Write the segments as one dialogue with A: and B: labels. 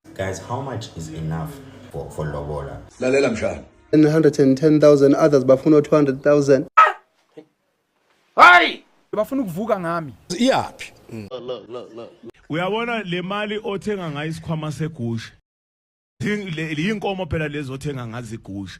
A: Guys, how much is enough for, for lobola? Lalela
B: mshana.
C: 110,000 others bafuna 200,000.
D: Hayi! Bafuna ukuvuka ngami.
E: Iyaphi?
F: Uyabona
G: le mali othenga ngayo isikhwama segusha. Yinkomo phela lezi othenga ngazo igusha.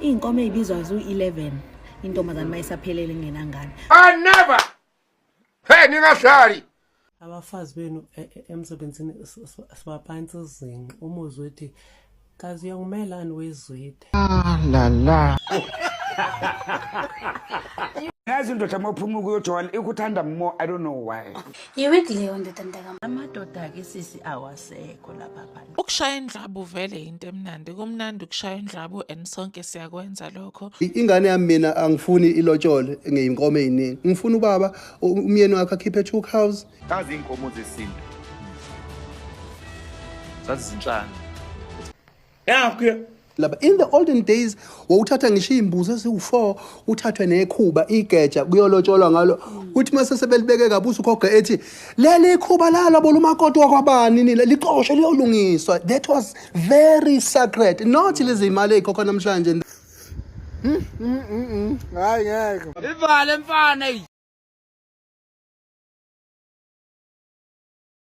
F: Iy'nkomo
H: ey'bizwa zu-11 intombazane uma isaphelele ingenangane. I
D: never. Hey ningahlali. Abafazi
I: benu e, e, emsebenzini sibaphansi izinqa umuzi wethi kazi uyangimelani wezwide.
D: Ah
J: la la. yazi indoda uma uphuma ukuyojola ikuthanda more i don't know why yiwiki leyo ndoda
H: mntakam amadoda-ke
I: sisi awasekho lapha Ukushaya indlabu
K: vele into emnandi. Kumnandi ukushaya indlabu and sonke siyakwenza lokho. ingane yami mina
C: angifuni ilotshole ngeyinkomo eziningi ngifuna ubaba u- umyeni wakhe akhiphe two cows Kazi inkomo
D: zesintu. Zazizinhlanga.
F: Nakho laba in
C: the olden days wawuthatha ngisho iy'mbuzi eziwu-four uthathwe nekhuba igeja kuyolotsholwa ngalo kuthi uma sesebelibeke kabusa ukhoga ethi leli ikhuba lalobo lumakoti wakwabani nile lixoshe liyolungiswa that was very sacred not lezi imali ey'khokha namhlanje hmm,
F: hmm, hmm,
C: hayi ngeke
F: ivale mfana